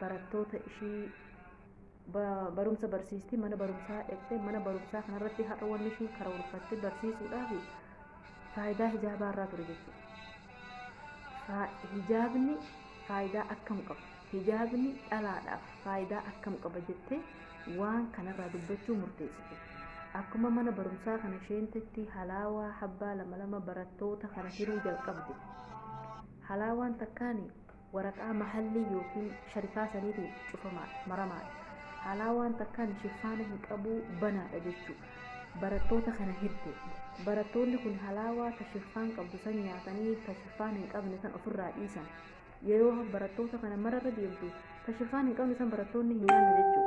barattoota ishii ba- barumsa barsiisti mana barumsaa dhaqxe mana barumsaa kanarratti har'a wanni ishiin karoorfatte barsiisuudhaaf faayidaa hijaabaa irraa ture jechuudha. Faa- Hijaabni faayidaa akkam qaba? Hijaabni dhalaadhaaf faayidaa akkam qaba jettee waan kanarraa dubbachuu murteessite. Akkuma mana barumsaa kana isheen tetti halaawaa habbaa lama lama barattoota kana hiruu jalqabde. Halaawaan takkaani waraqaa mahallii yookiin sharikaa saniitiin cufamaadha maramaadha haalaa waan takkaan shiffaana hin qabuu banaadha jechuu barattoota kana hirte barattoonni kun halaawaa ta shiffaan qabdu san nyaatanii ta shiffaan hin qabne san ofirraa dhiisan yeroo barattoota kana mararra deemtu ta shiffaan hin qabne san barattoonni hin nyaanne jechuu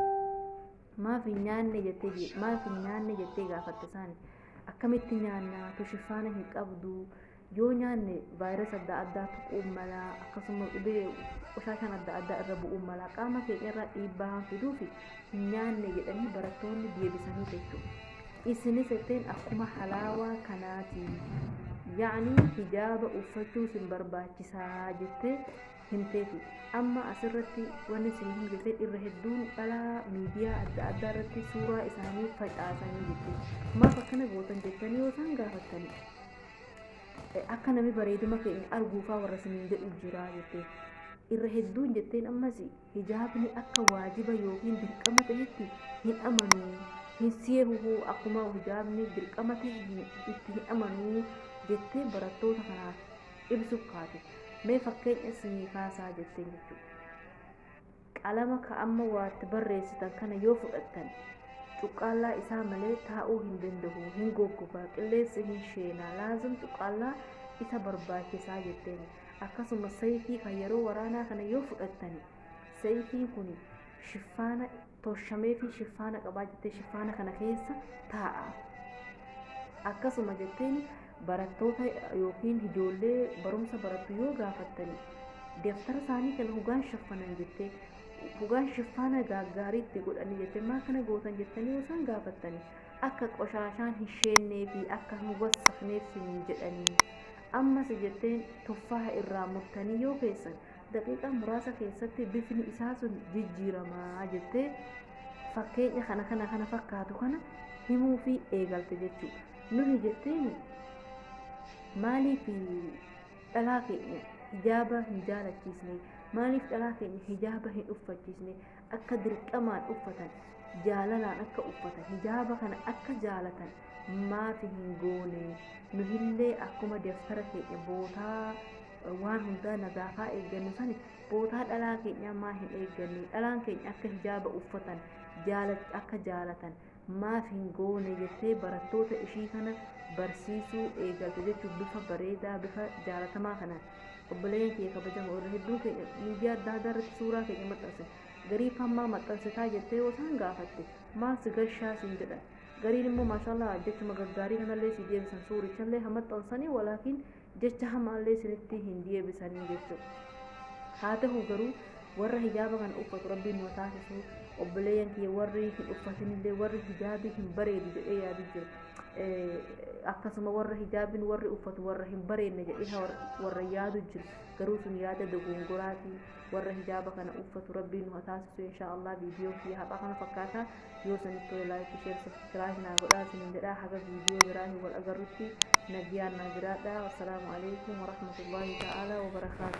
maaf hin nyaanne jettee je- maaf hin nyaanne jettee gaafatte isaani akkamitti nyaannaa tu shiffaana hin qabdu yoo nyaanne vaayirasi adda addaa tuquu mala akkasuma dhibee qoshaakaan adda addaa irra bu'uu mala qaama keenya irraa dhiibbaa waan fiduuf hin nyaanne jedhanii barattoonni deebisanii jechuudha. Isinis jetteen akkuma halaawaa kanaati yaa'anii hijaaba uffachuu sin barbaachisaa jettee himteefi. Amma asirratti wanni isin hin jettee irra hedduun dhalaa miidiyaa adda addaa irratti suuraa isaanii facaasanii jettee maaf akkana gootan jettanii yoo isaan gaafattanii akka nami bareeduma keenya arguufaa warra siniin jedhu jira jettee irra hedduun jetteen ammas hijaabni akka waajiba yookiin dirqama ta'etti hin amanuu hin seehuhu akkuma hijaabni dirqama ta'e itti hin amanuu jettee barattoota kanaaf ibsuuf kaate mee fakkeenya isinii kaasaa jetteen jechuudha. Qalama ka amma waa itti barreessitan kana yoo fudhattan, cuqqaallaa isaa malee taa'uu hin danda'u, hin goggogaa, qilleensi hin sheena, laazim cuqqaallaa isa barbaachisaa jetteen. Akkasuma sayfii ka yeroo waraanaa kana yoo fudhattan, sayfiin kun shiffaana toshamee fi shiffaana qabaa jettee shiffaana kana keessa taa'a. Akkasuma jetteen barattoota yookiin ijoollee barumsa barattu yoo gaafattani deftara isaanii kana hogaan shaffanan jettee hogaan shiffaana gaaggaarii itti godhanii jettee maa kana gootan jettanii yoo isaan gaafattani akka qoshaashaan hin sheennee fi akka hin wassakneef siniin jedhanii ammas jetteen tuffaa irraa murtanii yoo keessan daqiiqaa muraasa keessatti bifni isaa sun jijjiiramaa jettee fakkeenya kana kana kana fakkaatu kana himuu fi eegalte jechuudha. Nuhi jetteeni maaliif dhalaa keenya hijaaba hin jaalachiisne maaliif dhalaa keenya hijaaba hin uffachiisne akka dirqamaan uffatan jaalalaan akka uffatan hijaaba kana akka jaalatan maaf hin goone nuhillee akkuma daftara keenya bootaa waan hundaa nagaafaa eeggannu sani bootaa dhalaa keenyaa maa hin eegganne dhalaan keenya akka hijaaba uffatan jaala- akka jaalatan maaf hin goone jettee barattoota ishii kana barsiisuu eegalte jechuun bifa bareedaa bifa jaalatamaa kanaan obboleeyyan kiyya kabajamoo irra hedduun keenya miidiyaa adda addaa irratti suuraa keenya maxxanse garii fammaa maxxansitaa jettee yoo isaan gaafatte maal si gashaa siin jedhan gariin immoo maashaallah jechuma gaggaarii kanallee si deebisan suurichallee ha maxxansanii walaakiin jecha hamaallee isinitti hin deebisanii jechuudha. Haa ta'u garuu warra hijaaba kana uffatu rabbiin nu taasisu obboleeyyan kiyya warri hin uffatinillee warri hijaabii hin bareedu jedhee yaadu jiru. Akkasuma warra hijaabiin warri uffatu warra hin bareedne jedhee warra yaadu jiru. Garuu sun yaada dogongoraati warra hijaaba kana uffatu rabbiin nu taasisu inshaa Allah viidiyoon kiyya haphaa kana fakkaata. yoo sanitti ta'e laayikii sheer sabskiraayib naa godhaa isinin jedhaa haga viidiyoo biraatiin wal agarrutti nagiyaan naa jiraadhaa wassalaamu alaikum warahmatullaahi ta'aalaa wabarakaatu